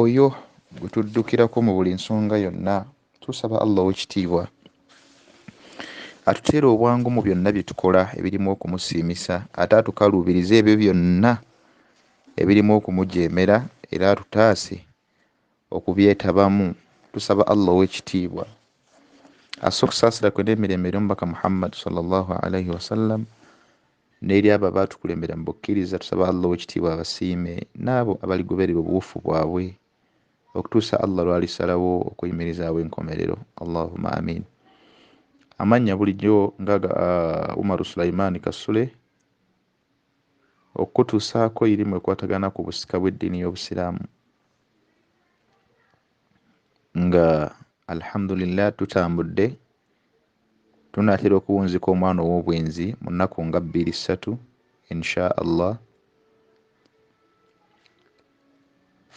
oyo gwe tuddukirako mu buli nsonga yonna tusaba allah owekitiibwa atuteere obwangu mu byonna bye tukola ebirimu okumusiimisa ate atukaluubirize ebyo byonna ebirimu okumujeemera era atutaase okubyetabamu tusaba allah owekitiibwa asse okusaasira kwe n'emirembe eri omubaka muhammadi sallallahu alaihi wasallam n'eri abo abaatukulembera mu bukkiriza tusaba Allah ow'ekitiibwa abasiime n'abo abaligoberera obuwufu bwabwe okutuusa Allah lw'alisalawo okuyimirizaawo enkomerero Allahumma amiin amannya bulijjo nga ga uh, Umaru Sulaiman Kasule okukutuusaako irimu ekwatagana ku busika bw'eddiini y'Obusiraamu nga alhamdulillah tutambudde tunaatera okuwunzika omwana ow'obwenzi mu nnaku nga bbiri ssatu insha allah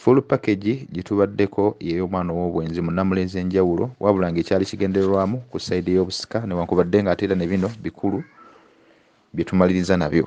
full package gye tubaddeko yeey'omwana ow'obwenzi mu nnamula ez'enjawulo wabula ng'ekyali kigendererwamu ku sayidi y'obusika newankubadde ng'ate era ne bino bikulu bye tumaliriza nabyo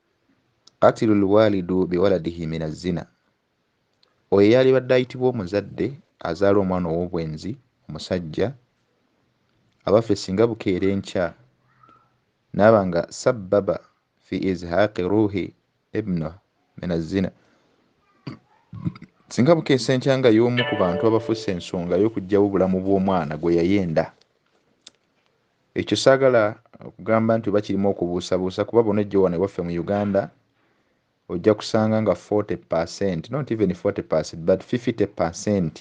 Qatilu lwalidu biwaladihi min azzina, oyo eyalibadde ayitibwa omuzadde azaala omwana ow'obwenzi omusajja, abaffe singa bukeera enkya n'aba nga sabbaba fi izhaaqi ruuhi ibnu min azzina, singa bukeesa enkya nga y'omu ku bantu abafusse ensonga y'okuggyawo obulamu bw'omwana gwe yayenda. Ekyo saagala kugamba nti oba kirimu okubuusabuusa kuba bw'onojja wano ewaffe mu Uganda ojja kusanga nga 40 percent not even 40 percent but 50 percent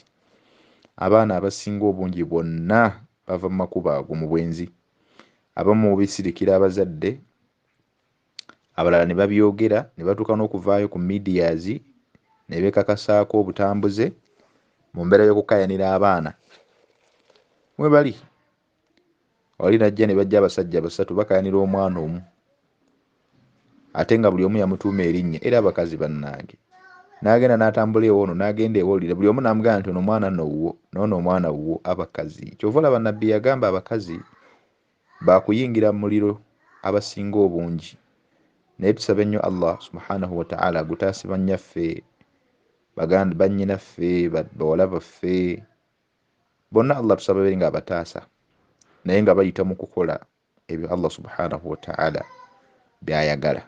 abaana abasinga obungi bonna bava mu makubo ago mu bwenzi abamu bisirikira abazadde abalala ne babyogera ne batuuka n'okuvaayo ku medias ne beekakasaako obutambuze mu mbeera y'okukayanira abaana mwe bali wali najja ne bajja abasajja basatu bakayanira omwana omu ate nga buli omu yamutuuma erinnya era abakazi bannange n'agenda n'atambula ewoono n'agenda ewolira buli omu n'amugamba nti ono omwana nowuwo noono omwana wuwo abakazi kyova olaba nabbi yagamba abakazi bakuyingira mu muliro abasinga obungi naye tusabe nnyo allah subhanahu wataala agutaase bannyaffe baganda bannyinaffe bawala baffe bonna allah tusaba bere nga abataasa naye nga bayita mu kukola ebyo allah subhanahu wataala byayagala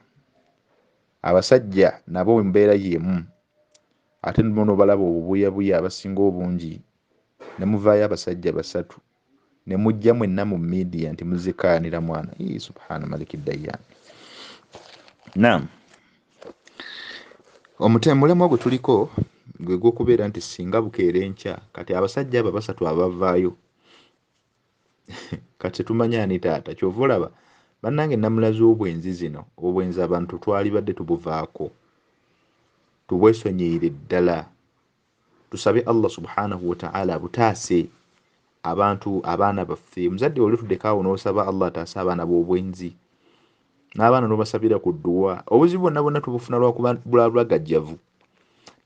abasajja nabo mbeera yemu ate nobalaba obubuyabuya abasinga obungi nemuvayo abasajja basatu ne mujja mwenna mu midiya nti muzikaanira mwana ii subhana maliki dayan nam omutemulema gwe tuliko gwe gwokubeera nti singa bukeera enkya kati abasajja abo abasatu abavaayo kati tumanya ani taata kyova olaba bannange namulazi obwenzi zino obwenzi abantu twalibadde tubuvaako tubwesonyiire ddala tusabe Allah subhanahu wa ta'ala abutaase abantu abaana baffe omuzadde olitudeko awo n'osaba Allah ataase abaana b'obwenzi n'abaana n'obasabira ku dduwa obuzibu bonna bonna tubufuna lwakuba bulagajjavu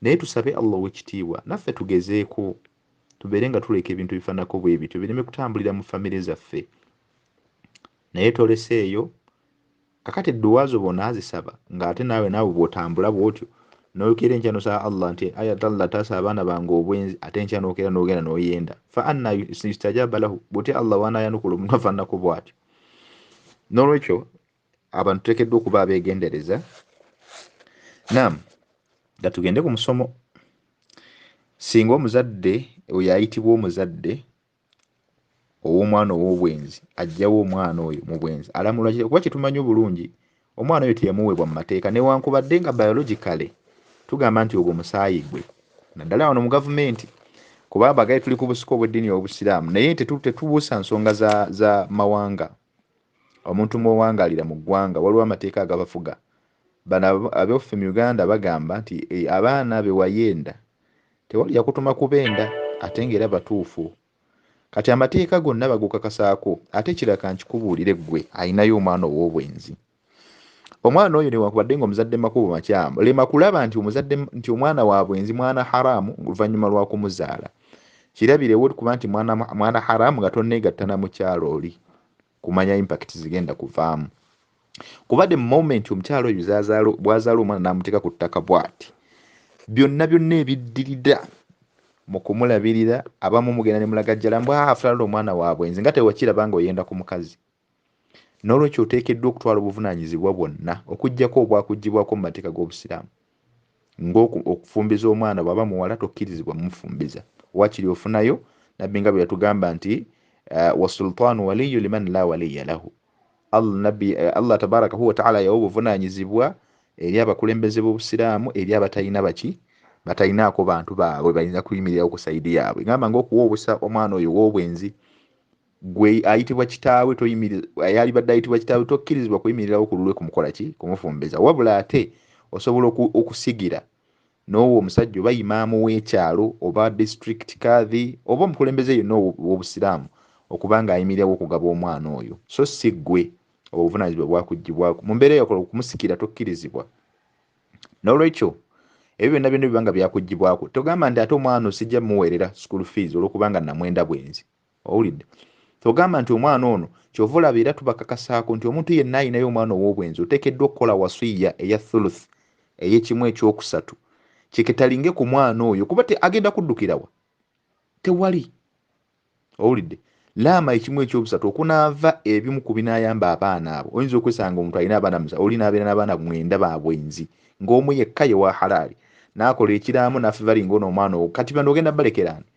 naye tusabe Allah ow'ekitiibwa naffe tugezeeko tubeere nga tuleka ebintu ebifaananako bwe bityo bireme kutambulira mu famire zaffe naye tolese eyo kakati edduwa zo bona azisaba nga ate naawe naawe bwotambula bwotyo noyokera enkya nosaba allah nti ayat allah taasa abaana bange obwenzi ate enkya nokera nogenda noyenda fa anna yustajaba lahu bwotya allah wanayanukula omuntu afananako bwatyo nolwekyo abantu tutekeddwa okuba abegendereza nam nga tugende ku musomo singa omuzadde oyo ayitibwa omuzadde ow'omwana ow'obwenzi ajjawo omwana oyo mu bwenzi alamulwa kitaawe kuba kyetumanyi obulungi omwana oyo teyamuweebwa mu mateeka newankubadde nga biologically tugamba nti ogwo musaayi gwe naddala wano mu gavumenti kuba abagaye tuli ku busika obw'eddiini obusiraamu naye tetubuusa nsonga za, za mawanga omuntu mwowangalira mu ggwanga waliwo amateeka agabafuga bano abeffe mu uganda bagamba nti e, abaana bewayenda tewali yakutuma kubenda ate nga era batuufu kati amateeka gonna bagukakasaako ate kiraka nkikubuulire ggwe ayinayo omwana ow'obwenzi omwana oyo newankubadde nga omuzadde makubo makyamu lema kulaba nti omuzadde nti omwana wa bwenzi mwana haramu oluvannyuma lwa kumuzaala kirabirewo kuba nti mwana, mwana haramu nga tonneegatta na mukyalo oli kumanya impact zigenda kuvaamu kuba the moment omukyalo oyo bwazaala omwana n'amuteeka ku ttaka bwati byonna byonna ebiddirira mu kumulabirira abamu mugenda ne mulagajjala mbwafulala omwana wa bwenzi nga tewakiraba nga oyenda ku mukazi n'olwekyo oteekeddwa okutwala obuvunaanyizibwa bwonna okuggyako obwakuggyibwako mu mateeka g'obusiraamu ng'okufumbiza omwana bw'aba muwala tokkirizibwa mufumbiza waakiri ofunayo nabbi nga bwe yatugamba nti eh, wasultaanu waliyu liman la waliya lahu allah nabbi eh, allah tabarakahu wataala yawa obuvunaanyizibwa eri abakulembeze b'obusiraamu eri abatalina baki batalinaako bantu baabwe bayinza kuyimirirawo ku sayidi yaabwe gamba ngaokuwa obusa omwana oyo w'obwenzi gwe ayitibwa kitaawe yalibadde ayitibwa kitaawe tokkirizibwa kuyimirirawo ku lulwe kumukola ki kumufumbeza wabula ate osobola okusigira n'owo omusajja oba imaamu w'ekyalo oba district kadhi oba omukulembeze yonna ow'obusiraamu okuba ng'ayimirirawo okugaba omwana oyo so si ggwe obuvunanyizibwa bwakugibwako mu mbeera yakola okumusikira tokkirizibwa n'olwekyo ebyo byonna byonna bibanga byakugibwako togamba nti ate omwana osijja muweerera school fees olwokubanga namwenda bwenzi owulidde ogamba nti omwana ono kyova olaba era tubakakasaako nti omuntu yenna ayinayo omwana ow'obwenzi oteekeddwa okukola wasiya eya thuluth ey'ekimu ekyokusatu kiketalinge ku mwana oyo kuba agenda kuddukirawa tewali owulidde laama ekimu ekyobusatu okunaava ebimu ku binayamba abaana abo oyinza okwesanga omuntu alina abaana musa oli nabeera n'abaana mwenda ba bwenzi ng'omu yekka ye wa halaali n'akola ekiraamo n'afivalinga ono omwana owo kati bano ogenda balekeraani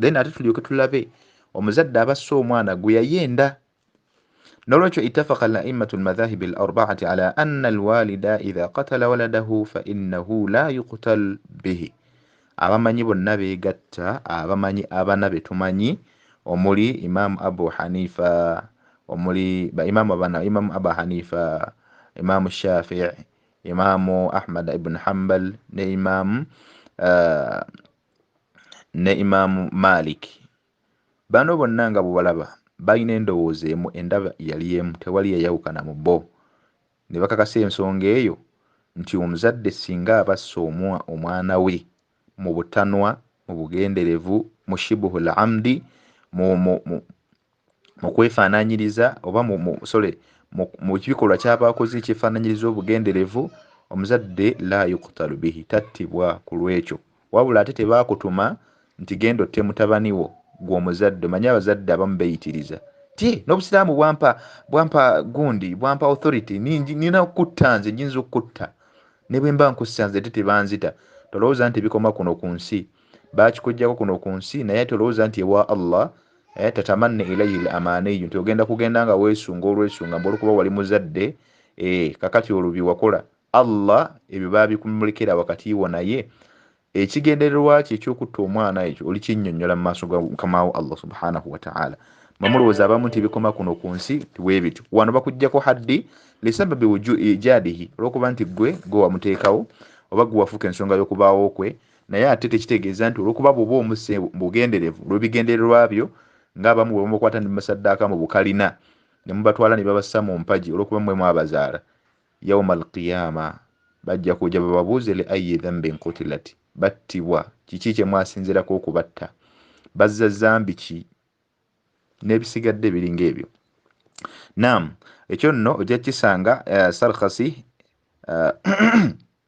then ate tulyoke tulabe omuzadde abasse omwana gwe yayenda nolwekyo itafaka laimatu lmadhahibi larbaati ala anna alwalida idha katala waladahu fainahu la yuktal bihi abamanyi bonna begatta abamanyi abana betumanyi omuli imamu abu hanifa omuli baimamu abana imamu abu hanifa imamu shafii imamu ahmad ibn hambal ne imamu uh, ne imaamu malik bano bonna nga bwebalaba balina endowooza emu endaba yali emu tewali yayawukana mu bo ne bakakasa ensonga eyo nti omuzadde singa abassa omwa omwana we mu butanwa mu bugenderevu mu shibuhul amdi mu, mu, mu, mu kwefaananyiriza oba mu, mu sole mu, mu kibikolwa ky'aba akoze ekyefaananyiriza obugenderevu omuzadde la yukutalu bihi tattibwa ku lw'ekyo wabula ate tebaakutuma nti genda otte mutabani wo gwe omuzadde omanyi abazadde abamu beyitiriza ti n'obusiraamu bwampa bwampa gundi bwampa authority nina okukutta nze nyinza okukutta ne bwe mba nkussa nze te tebanzita tolowooza nti bikoma kuno ku nsi bakikujjako kuno ku nsi naye ate olowooza nti ewa allah eh, tatamanna ilaihi l amaaniyu nti ogenda kugenda nga weesunga olwesunga mbu olwokuba wali muzadde eh, kakati olwo bye wakola allah ebyo babikumulekera wakati wo naye ekigendererwa kye ekyokutta omwana ekyo olikinnyonnyola mu maaso ga mukamawo allah subhanahu wataala mwemulowooza abamu nti bikoma kuno ku nsi tiwebityo wano bakuggyako haddi lisababi ijadihi olwokuba nti gwe gwe wamuteekawo oba gwe wafuuka ensonga y'okubaawo kwe naye ate tekitegeeza nti olwokuba bwoba omuse bugenderevu olwebigendererwa byo nga abamu bwe bamukwata ne musaddaaka mu bukalina ne mubatwala ne babassa mu mpagi olwokuba mwe mwabazaala yauma alqiyama bajja kuja bababuuze li ayi dhambin kutilati battibwa kiki kye mwasinzirako okubatta bazza zambi ki n'ebisigadde ebiringa ebyo nam ekyo nno ojja kukisanga uh, eh, sarkasi uh, eh,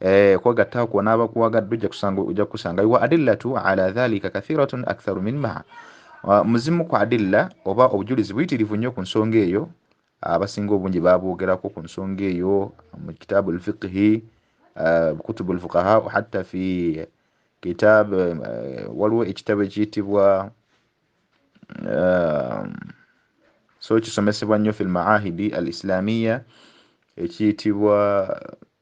Eh, kwegatta kwo n'abakuwagadde ojja kusanga ojja kusangayo wa adillatu ala dhalika kathiratun aktharu min maa ah, muzimu ku adilla oba obujulizi buyitirivu nnyo ku nsonga eyo abasinga obungi babwogerako ku nsonga eyo mu kitaabu lfiqhi ah, kutubu lfuqaha hatta fi kitab eh, waliwo ekitabo ekiyitibwa ah, so kisomesebwa nnyo fi lmaahidi al islamiya ekiyitibwa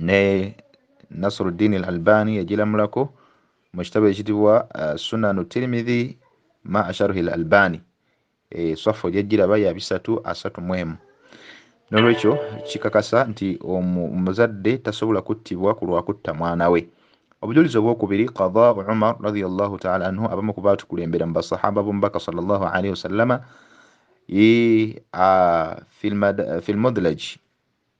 ne Nasruddin al-Albani yagilamulako mu kitabo ekitibwa uh, Sunan Tirmidhi ma asharhi al-Albani e swafu gyajjiraba ya bisatu asatu mu emu n'olwekyo kikakasa nti omuzadde tasobola kuttibwa ku lwa kutta mwana we obujulizi obwokubiri qada umar radiallahu taala anhu abamu ku baatukulembera mu basahaba b'omubaka salllahu alaihi wasallama filmudlaj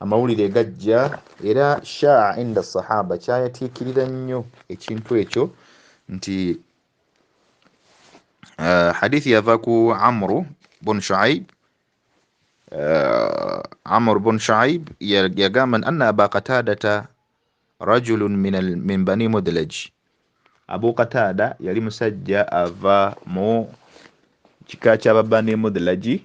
amawulire gajja era shaa inda sahaba kyayatiikirira nnyo ekintu ekyo nti uh, hadithi yava ku amru bun shuaib uh, amru bun shuaib yagamba ya anna aba qatadata rajulun min, al, min bani mudlaj abu qatada yali musajja ava mu kika kyababani mudlaji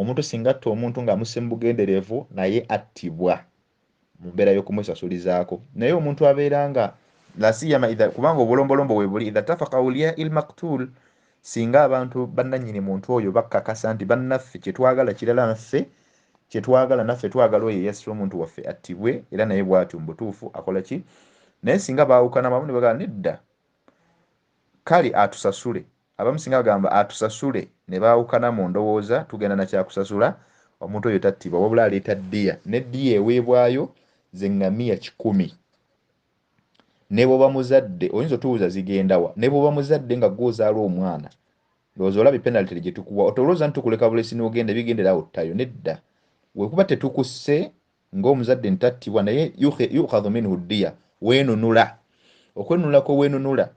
Omuntu singa atta omuntu nga amusse mu bugenderevu naye attibwa mu mbeera y'okumusasulizaako. Naye omuntu abeera nga lasiyama idha kubanga obulombolombo webuli idha tafaka aulia il maktul singa abantu bannanyini muntu oyo bakkakasa nti bannaffe kyetwagala kirala naffe kyetwagala naffe twagala oyo eyasse omuntu waffe attibwe era naye bwatyo mubutuufu akola ki naye singa baawukana bamu nebagala nedda Kale atusasule. Abamu singa bagamba atusasule ne baawukana mu ndowooza, tugenda na kya kusasula, omuntu oyo tattibwa wabula aleeta ddiya, ne ddiya eweebwayo ze ŋŋamiya kikumi. Ne bw'oba muzadde, oyinza otubuuza zigenda wa? Ne bw'oba muzadde nga ggwe ozaala omwana, ndowooza olabye penalty gye tukuwa. Otolooza nti tukuleka bulesi n'ogenda ebigendera awo ttayo. Nedda. Bwe kuba tetukusse, ng'omuzadde ntattibwa naye yukhadhu minhu ddiya weenunula okwenunula kweweenunula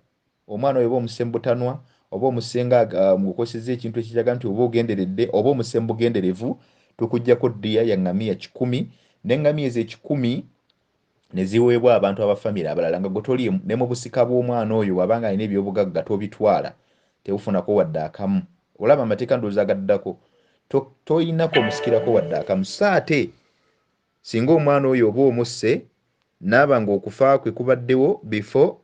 omwana oyo oba omusse mu butanwa oba omusenga uh, mukukozeseza ekintu ekiraga nti oba ogenderedde oba omusse mu bugenderevu tukugyako ddiya ya ngamiya kikumi nengamiya ezo ekikumi neziweebwa abantu abafamire abalala nga gwe toli ne mu busika bw'omwana oyo bwabanga alina ebyobugagga tobitwala Tewufunako wadde akamu. Olaba amateeka ndowooza agaddako to, toyina komusikirako wadde akamu. So ate singa omwana oyo oba omusse naaba nga okufa kwe kubaddewo before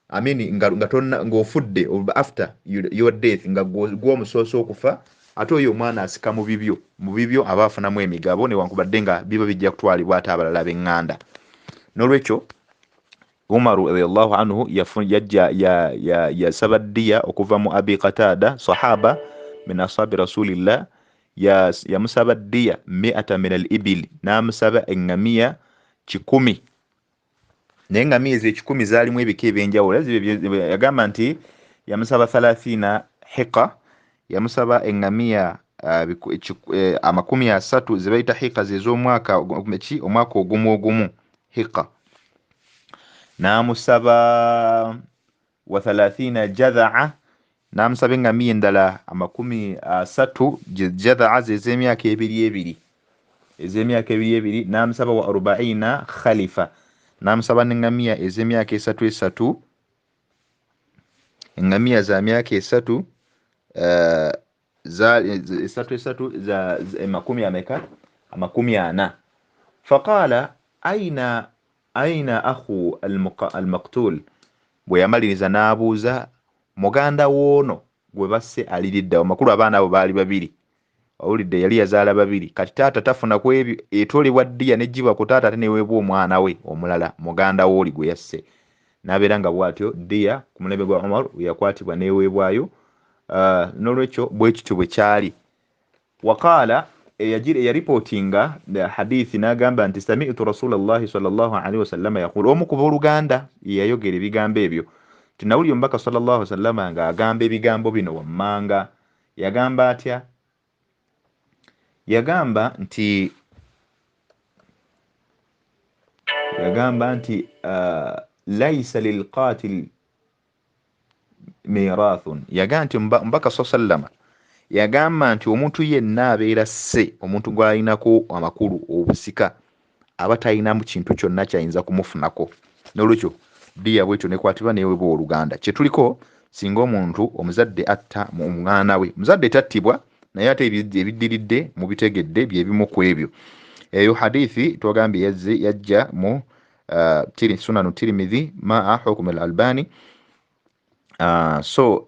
I mean nga, nga tonna ng'ofudde after your death nga gwomusoose okufa ate oyo omwana asika mu bibyo mu bibyo aba afunamu emigabo newankubadde nga biba bijja kutwalibwa ate abalala b'enganda n'olwekyo umaru radiallahu anhu yasaba ddiya okuva mu abi qataada sahaba min ashabi rasulillah yamusaba ddiya miata min al ibili n'amusaba eŋŋamiya kikumi naye eŋŋamiya ezo ekikumi zaalimu ebika ebyenjawulo yagamba nti yamusaba thalathina hiqa yamusaba eŋŋamiya ah, biku- ekiku- eh, amakumi asatu ze bayita hika ze z'omwaka ogu- ki omwaka ogumu ogumu hika n'amusaba wa thalathina jadhaa n'amusaba eŋŋamiya endala amakumi asatu je- jadhaa ze z'emyaka ebiri ebiri ez'emyaka ebiri ebiri n'amusaba wa arubaina khalifa n'amusaba n'eŋŋamiya ez'emyaka esatu esatu engamiya za myaka esatu eh, esatu esatu emakumi eh, ameka amakumi ana faqala aina aina ahu almaktul bwe yamaliriza n'abuuza muganda woono gwe basse aliriddawo makulu abaana abo baali babiri owulidde yali yazaala babiri kati taata tafuna ku ebyo etolebwa ddiya nejjibwa ku taata ate neweebwa omwana we omulala muganda wooli gwe yasse n'abeera nga bw'atyo ddiya ku mulembe gwa omar weyakwatibwa neweebwayo uh, n'olwekyo bwe kityo bwe kyali waqaala eyaripootinga eh, hadithi n'agamba nti samitu rasulallahi salllah alihi wasallama yaqulu omu kuba oluganda yeyayogera ebigambo ebyo tinawulira omubaka salllah wasallama ng'agamba ebigambo bino wammanga Yagamba atya? Yagamba nti yagamba nti uh, laisa lilqatil mirathun yagamba nti mbaka sa sallama yagamba nti omuntu yenna abeera sse omuntu gw'alinako amakulu obusika aba talinamu kintu kyonna kyayinza kumufunako nolwekyo diya bwetyo nekwatibwa neweba oluganda kyetuliko singa omuntu omuzadde atta omwana we muzadde tattibwa naye ate ebiddiridde mubitegedde byebimu ku ebyo eyo hadithi twagambye yazze yajja mu uh, sunanu tirimidhi maa hukumi al albani uh, so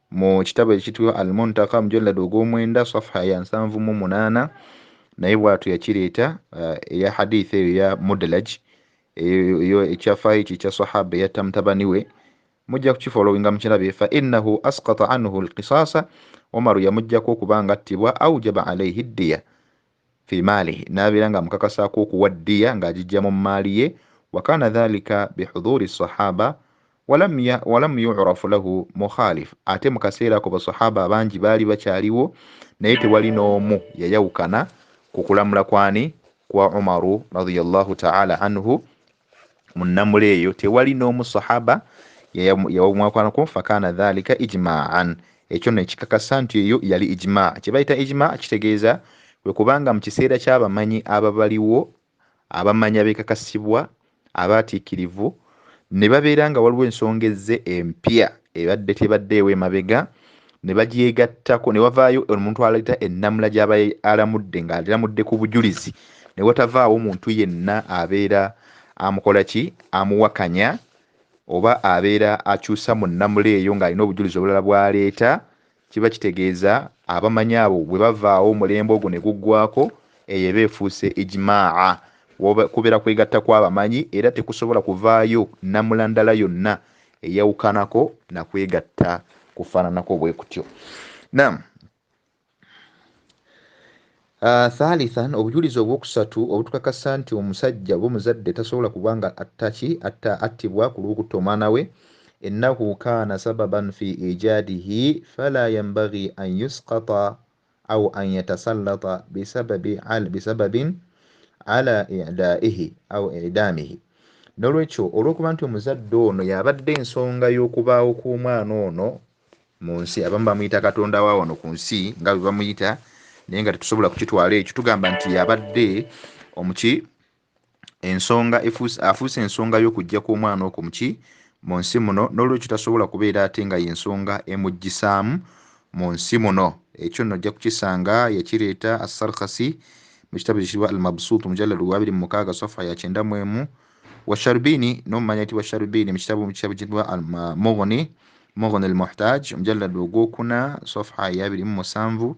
mu kitabo ekitibwa al muntaka mujalladi ogw'omwenda safuha ya nsanvu mu munaana naye bwatu yakireeta uh, eya hadith eyo ya mudalaj eyo ekyafaayo ekyo ekya sahaba eyatta mutabani we mujja kukifolowinga mukirabe fa innahu asqata anhu lkisasa omaru yamujjako okuba nga attibwa aujaba alaihi ddiya fi maalihi n'abeera nga amukakasaako okuwa ddiya ng'agijja mu mmaali ye wakana dhalika bihudhuri sahaba walam yurafu lahu mukhalif ate mu kaseera ako basahaba abangi baali bakyaliwo naye tewali n'omu yayawukana ku kulamula kwani kwa umaru radiyallahu taala anhu mu nnamula eyo tewali n'omu sahaba yawamwakanako fakana dhalika ijmaan ekyo no ekikakasa nti eyo yali ijmaa kye bayita ijmaa kitegeeza kwe kubanga mu kiseera ky'abamanyi ababaliwo abamanyi abekakasibwa abaatiikirivu ne babeera nga waliwo ensonga ezze empya ebadde tebaddeewo emabega ne bagyegattako ne wavaayo omuntu aleeta ennamula gy'aba alamudde ng'alamudde ku bujulizi ne watavaawo muntu yenna abeera amukola ki amuwakanya oba abeera akyusa mu nnamula eyo ng'alina obujulizi obulala bw'aleeta kiba kitegeeza abamanyi abo bwe bavaawo omulembe ogwo ne guggwako eyo eba efuuse ijmaa kubeera kwegatta kw'abamanyi era tekusobola kuvaayo nnamula ndala yonna eyawukanako na kwegatta kufaananako bwe kutyo nam ah, thalithan obujulizi obwokusatu obutukakasa nti omusajja oba omuzadde tasobola kuba nga attaki atta attibwa ku lw'okutta omwana we ennahu kaana sababan fi ijadihi fala yambagi an yuskata au an yatasallata bisababi al bisababin ala idaihi au idamihi nolwekyo olwokuba nti omuzadde ono yabadde ensonga y'okubaawo kw'omwana ono mu nsi abamu bamuyita katonda wa wano ku nsi nga bwe bamuyita naye nga tetusobola kukitwala ekyo tugamba nti yabadde omuki ensonga afuuse ensonga y'okujja kw'omwana okwo muki mu nsi muno n'olwekyo tasobola kubeera ate nga y'ensonga emuggisaamu mu nsi muno ekyo nno ojja kukisanga yakireeta assarkasi mu kitabo ekitibwa al mabsuut mujalladu gwabiri mu mukaaga safa ya kyenda mu emu wa sharubini n'omumanya yitibwa sharubini mu kitabo kitabo kitibwa mugni mugni al muhtaj mujalladu ogwokuna safa eyabiri mu musanvu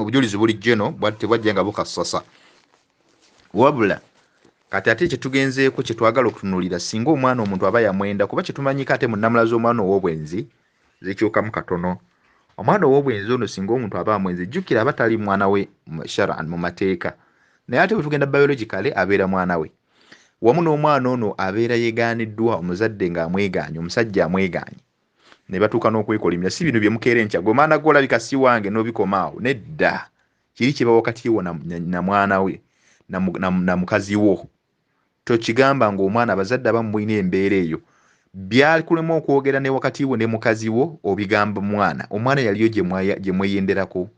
obujulizi buli jeno bwati tebwajja nga bukassasa wabula kati ate kyetugenzeeko kyetwagala okutunulira singa omwana omuntu aba yamwenda kuba kyetumanyiko ate munamula z'omwana ow'obwenzi zikyukamu katono omwana ow'obwenzi ono singa omuntu aba amwenzi jjukira aba tali mwana we sharan mu mateeka naye ate bwetugenda biologicale abeera mwana we wamu n'omwana ono abeera yegaaniddwa omuzadde ng'amwegaanye omusajja amwegaanye ne batuuka n'okwekolimira si bino bye mukeera enkya gwe maana gwe olabika si wange n'obikoma awo nedda kiri kye bawa wakati wo na mwana we na mukazi wo tokigamba ng'omwana abazadde abamu mulina embeera eyo byakulema okwogera ne wakati wo ne mukazi wo obigamba mwana omwana yaliyo gye mweyenderako gye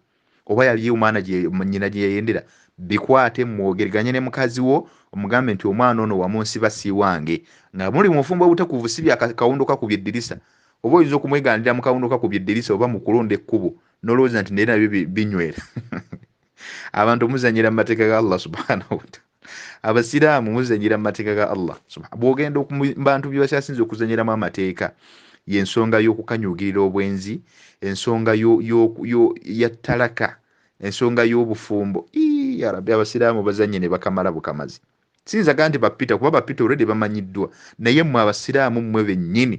oba yali omwana nyina gye yayendera bikwate mwogerganye ne mukazi wo omugambe nti omwana ono wamunsiba siiwange nga muli mufumbo obutekuvu si byakawundo kakubye eddirisa oba oyinza okumwegaanira mu kawundo kakubye eddirisa oba mu kulonda ekkubo nolowooza nti naye nabyo binywera abantu omuzanyira mu mateeka ga allah subhanahu wataala abasiraamu muzanyira mu mateeka ga allah bwogenda bantu byebakyasinza okuzanyiramu amateeka yensonga y'okukanyugirira obwenzi ensonga ya talaka ensonga y'obufumbo yarabi abasiraamu bazanye ne bakamala bukamazi siyinzaga nti bapita kuba bapita olredi bamanyiddwa naye mwe abasiraamu mmwe bennyini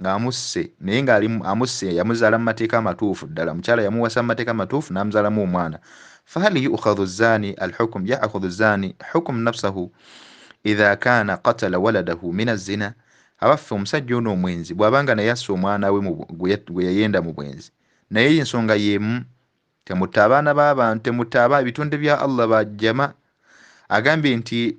nga amusse naye nga ali amusse yamuzaala mu mateeka amatuufu ddala omukyala yamuwasa mu mateeka amatuufu n'amuzaalamu omwana fahal yukhadhu zani alhukum yaakhudhu zani hukum nafsahu idha kana qatala waladahu min azzina abaffe omusajja ono omwenzi bw'aba nga naye assa omwana we gwe yayenda mu bwenzi naye ensonga y'emu temutta abaana b'abantu temutta aba ebitonde bya allah bajjama agambye nti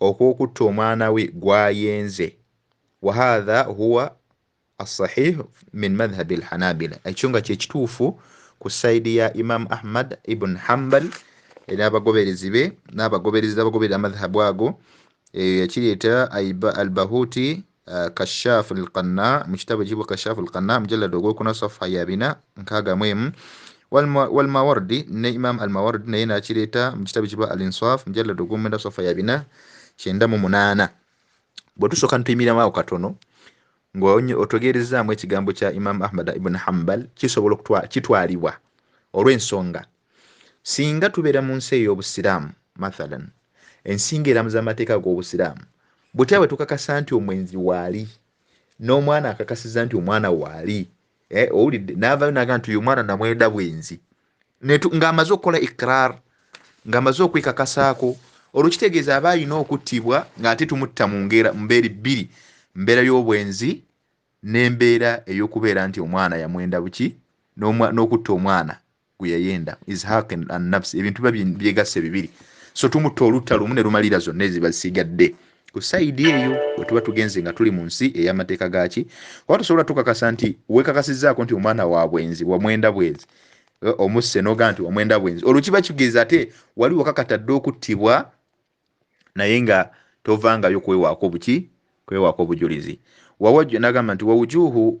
okw'okutta omwana we gwayenze wahatha huwa assahih min madhhabi alhanabila ekyo nga kyekituufu ku saidi ya imam ahmad ibn hambal n'abagoberezi be n'abagoberezi abagoberera amadhhabu ago eyo yakireeta albahuti Uh, kashafu lqanna mu kitabo ekiyibwa kashafu lqanna mujallada ogwokuna safa ya bina nkaaga mu emu walmawardi ne imam almawardi naye nakireeta mu kitabo ekiyibwa al insaf mujallada ogwomwenda safa ya bina kyenda mu munaana bwe tusooka nituyimiriramu awo katono ng'otegeerezaamu ekigambo kya imam ahmad ibn hambal kisobola kitwalibwa olw'ensonga singa tubeera mu nsi ey'obusiraamu mathalan ensinga eramuza amateeka ag'obusiraamu butya bwe tukakasa nti omwenzi waali n'omwana akakasiza nti omwana waali eh, owulidde n'avayo naga nti uyu mwana namwenda bwenzi ng'amaze okukola ikrar ng'amaze okwekakasaako olwo kitegeeza aba alina okuttibwa ng'ate tumutta mu ngera mu mbeeri bbiri mbeera y'obwenzi n'embeera ey'okubeera nti omwana yamwenda buki n'okutta omwana gweyayenda izhaq annafsi ebintu biba byegasse bibiri so tumutta olutta lumu ne lumalira zonna eziba zisigadde ku sayidi eyo wetuba tugenze nga tuli mu nsi ey'amateeka gaaki oba tusobola tukakasa nti wekakasizzaako nti omwana wa bwenzi wamwenda bwenzi eh, omusse noga nti wamwenda bwenzi olwo kiba kigezi ate wali wakakata dde okuttibwa naye nga tovangayo kwewaako buki kwewaako obujulizi nagamba nti wawujuhu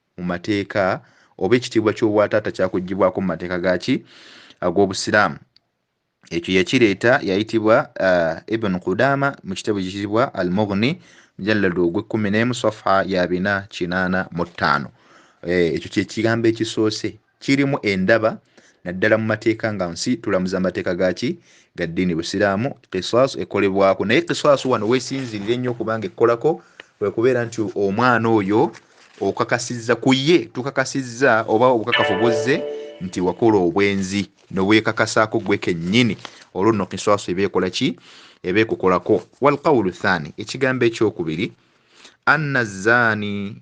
mu mateeka oba ekitiibwa ky'obwataata kyakugibwako mu mateeka gaki ag'obusiraamu ekyo yakireeta yayitibwa uh, ibn qudama mu kitabo kiyitibwa al mughni mujalladu ogw'ekkumi n'emu safa ya bina kinaana mu ttaano eh, ekyo kyekigambo ekisoose kirimu endaba naddala mu mateeka nga nsi tulamuza amateeka gaki ga ddiini busiraamu kiswasu ekolebwako naye kiswasu wano wesinzirire nnyo kubanga ekkolako kwekubeera nti omwana oyo okakasizza ku ye tukakasizza oba obukakafu buzze nti wakola obwenzi nobwekakasaako gwe kennyini olwo nno kiswasu eba ekola ki eba ekukolako walkawulu thani ekigambo ekyokubiri anna zaani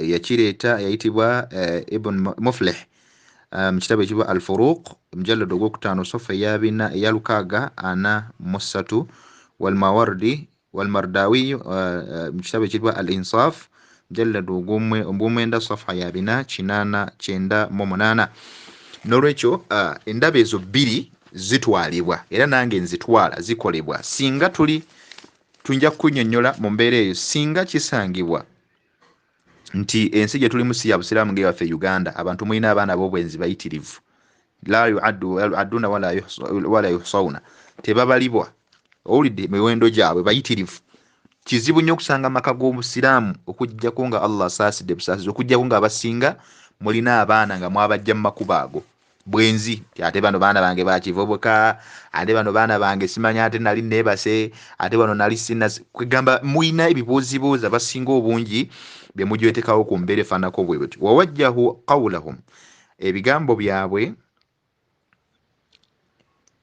yakireeta yayitibwa eh, ibn muflih eh, mu kitabo ekibwa al furuq mujallad ogwokutaano sofa eyabina eya lukaaga ana mu ssatu walmawardi walmardawiyu eh, mu kitabo ekibwa al insaf mujallad ogwomwenda sofa yabina kinaana kyenda mu munaana nolwekyo endaba ezo bbiri zitwalibwa era nange nzitwala zikolebwa singa tuli Tuinja kukunyonyola mu mbeera eyo singa kisangibwa nti ensi gye tulimu si ya busiraamu nga ewaffe e uganda abantu mulina abaana b'obwenzi bayitirivu la yuaddu aduna wala yuhsauna tebabalibwa owulidde miwendo gyabwe bayitirivu kizibu nnyo okusanga amaka g'obusiraamu okujjako nga allah asaasidde busaasizi okujjako nga abasinga mulina abaana nga mwabajja mu makubo ago bwenzi nti ate bano baana bange bakivubuka ate bano baana bange simanya ate nali nebase ate bano nali sina kwegamba mulina ebibuuzibuuza basinga obungi byemujwetekawo ku mbeera efaanako bwe buti wawajjahu qawulahum ebigambo byabwe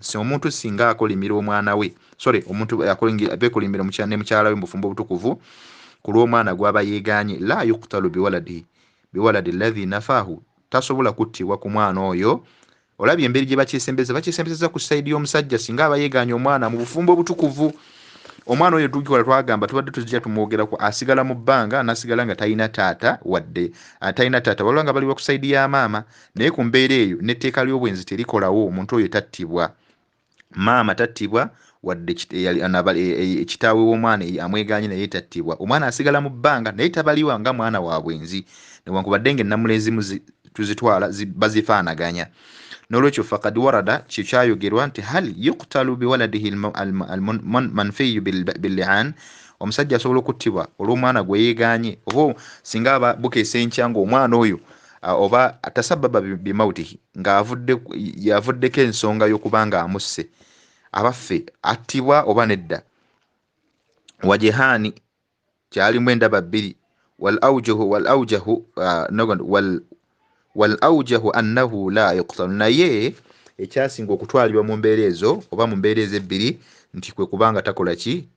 nsi omuntu singa akolimira omwana we sorry omuntu bekolimbira ne mukyala we mubufumbo obutukuvu ku lw'omwana gwaba yeeganye la yuktalu biwaladi biwaladi ladhi nafahu tasobola kuttibwa ku mwana oyo olabye emberi gye bakyesembeza bakyesembezeza ku saidi y'omusajja singa aba yeeganye omwana mu bufumbo obutukuvu omwana oyo tukikola twagamba tubadde tuzija tumwogerako asigala mu bbanga nasigala nga talina taata wadde ah, talina taata waliwo nga baliwa ku saidi ya maama naye ku mbeera eyo n'etteeka ly'obwenzi terikolawo omuntu oyo tattibwa maama tattibwa wadde kitaawe w'omwana amwegaanye naye tattibwa omwana asigala mu bbanga naye tabaliwa nga mwana wa bwenzi newankubadde nga ennamula ezimu tuzitwala bazifaanaganya n'olwekyo fakad warada kye kyayogerwa nti hal yuktalu biwaladihi almanfiyu bilian omusajja asobola okuttibwa olw'omwana gwe yeegaanye oba singa bukeesa enkya ng'omwana oyo Ah, oba tasababa bimautihi nga yavuddeko ensonga yokuba nga amusse abaffe attibwa oba nedda wajehaani kyalimu endaba bbiri wal aujahu ah, annahu la yuktalu naye ekyasinga okutwalibwa mu mbeera ezo oba mu mbeera ezo ebbiri nti kwe kubanga takola ki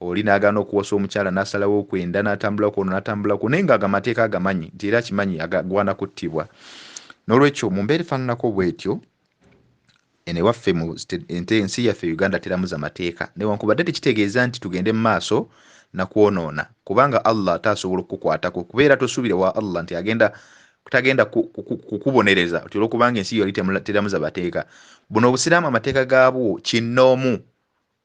oli n'agaana okuwasa omukyala n'asalawo okwenda n'atambula kwono n'atambula kwo naye ng'ago amateeka agamanyi nti era akimanyi agagwana kuttibwa n'olwekyo mu mbeera efaananako bwetyo eno ewaffe mu ensi yaffe uganda teramuza mateeka newankubadde tekitegeeza nti tugende mu maaso nakwonoona kubanga allah ate asobola okukukwatako kubeera tosuubire wa allah nti agenda tagenda kukubonereza ku, ku, ku, olwokubanga ensi yali teramuza mateeka buno obusiraamu amateeka gaabwo kinnoomu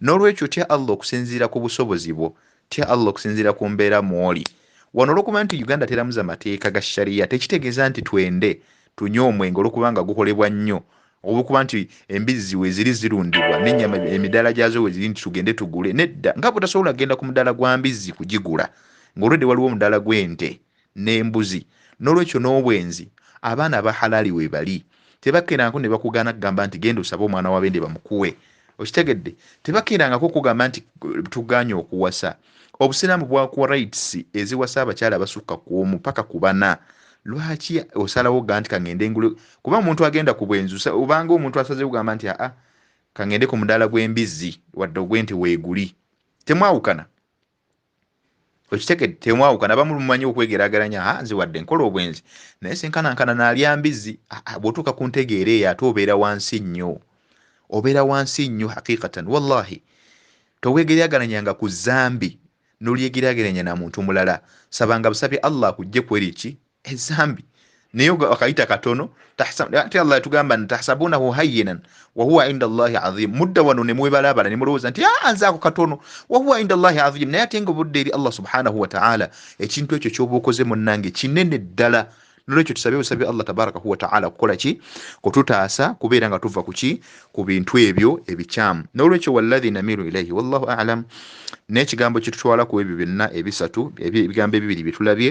n'olwekyo tya allah okusinziira ku busobozi bwo tya allah okusinziira ku mbeera mwoli wano olwokuba nti uganda teramuza mateeka ga shariya tekitegeeza nti twende tunywe omwenge olwokubanga gukolebwa nnyo olwokuba nti embizzi weziri zirundibwa nenyama emidaala gyazo weziri nti tugende tugule nedda nga butasobola kugenda ku mudaala gwa mbizzi kugigula ngaolwedde waliwo omudaala gw'ente n'embuzi n'olwekyo n'obwenzi abaana aba halaali weebali tebakeerangako ne bakugaana kugamba nti genda osabe omwana wa bende bamukuwe okitegedde tebakeerangako kugamba nti tugaanye okuwasa obusiraamu bwakuwa rights eziwasa abakyala abasukka ku omu paka ku bana lwaki osalawo ga nti kangende ngule kuba omuntu agenda ku bwenzi obanga omuntu asazewo gamba nti aa kangende ku mudaala gw'embizzi wadde ogw'ente weeguli temwawukana okitegedde temwawukana abamu mumanyi okwegerageranya a nze wadde nkola obwenzi naye senkanankana nalya mbizzi bwotuuka ku ntegeera eyo ate obeera wansi nnyo obeera wansi nnyo hakikatan wallahi towegerageranya nga ku zambi nolyegeraageranya na muntu mulala sabanga busabi allah akujje kweri ki ezambi naye wakayita katono ate allah yatugamba nti tahsabunahu hayinan wahuwa inda llahi azim mudda wano nemwebalabala nemulowooza nti ah, nze ako katono wahuwa inda llahi azim naye ate nga obudde eri allah subhanahu wataala ekintu ekyo kyoba okoze munange kinene ddala nolwekyo tusabe busabi allah tabaraka wataala kukola ki kututaasa kubeera nga tuva kuki ku bintu ebyo ebikyamu nolwekyo wallahi namiru ilaihi wallahu alam naye ekigambo kitutwala ku ebyo byonna ebisatu ebigambo ebibiri byetulabye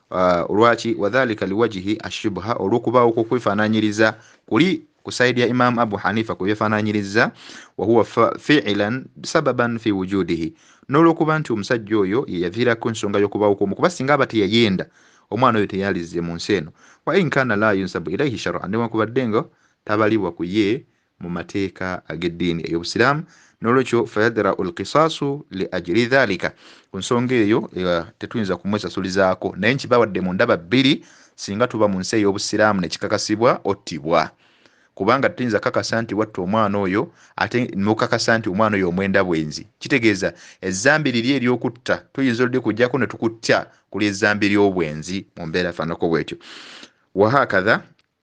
Uh, lwaki wadhalika liwajihi ashubha olwokubaawo kwokwefaananyiriza kuli ku saidi ya imamu abu hanifa kweyefaananyiriza wahuwa fiilan sababan fi wujudihi n'olwokuba nti omusajja oyo yeyaviirako ensonga y'okubaawo kwomu kuba singa aba teyayenda omwana oyo teyalizze mu nsi eno wa inkana la yunsabu ilaihi sharan newankubadde nga tabalibwa ku ye mu mateeka ag'eddiini ey'obusiraamu n'olwekyo fayadrau lkisaasu li ajiri dhalika ku nsonga eyo eh, tetuyinza kumwesasulizaako naye nkibawadde mu ndaba bbiri singa tuba mu nsi ey'obusiraamu nekikakasibwa ottibwa kubanga tetuyinza kakasa nti watta omwana oyo ate nokakasa nti omwana oyo omwenda bwenzi kitegeeza ezambi liri eryokutta tuyinza oludi kujjako netukutta kuli ezambi ly'obwenzi mu mbeera fanako bwetyo wahakatha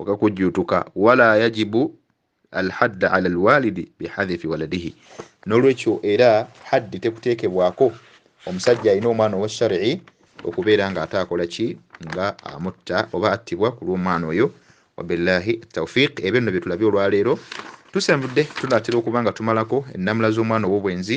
okakujjuutuka wala yajibu alhadda ala alwalidi bihadhifi waladihi nolwekyo era haddi tekuteekebwako omusajja alina omwana owashari'i okubeera nga ate akola ki nga amutta oba attibwa ku lw'omwana oyo wabillahi taufiq ebyo nno byetulabye olwaleero tusenvudde tunatera okuba nga tumalako ennamula z'omwana ow'obwenzi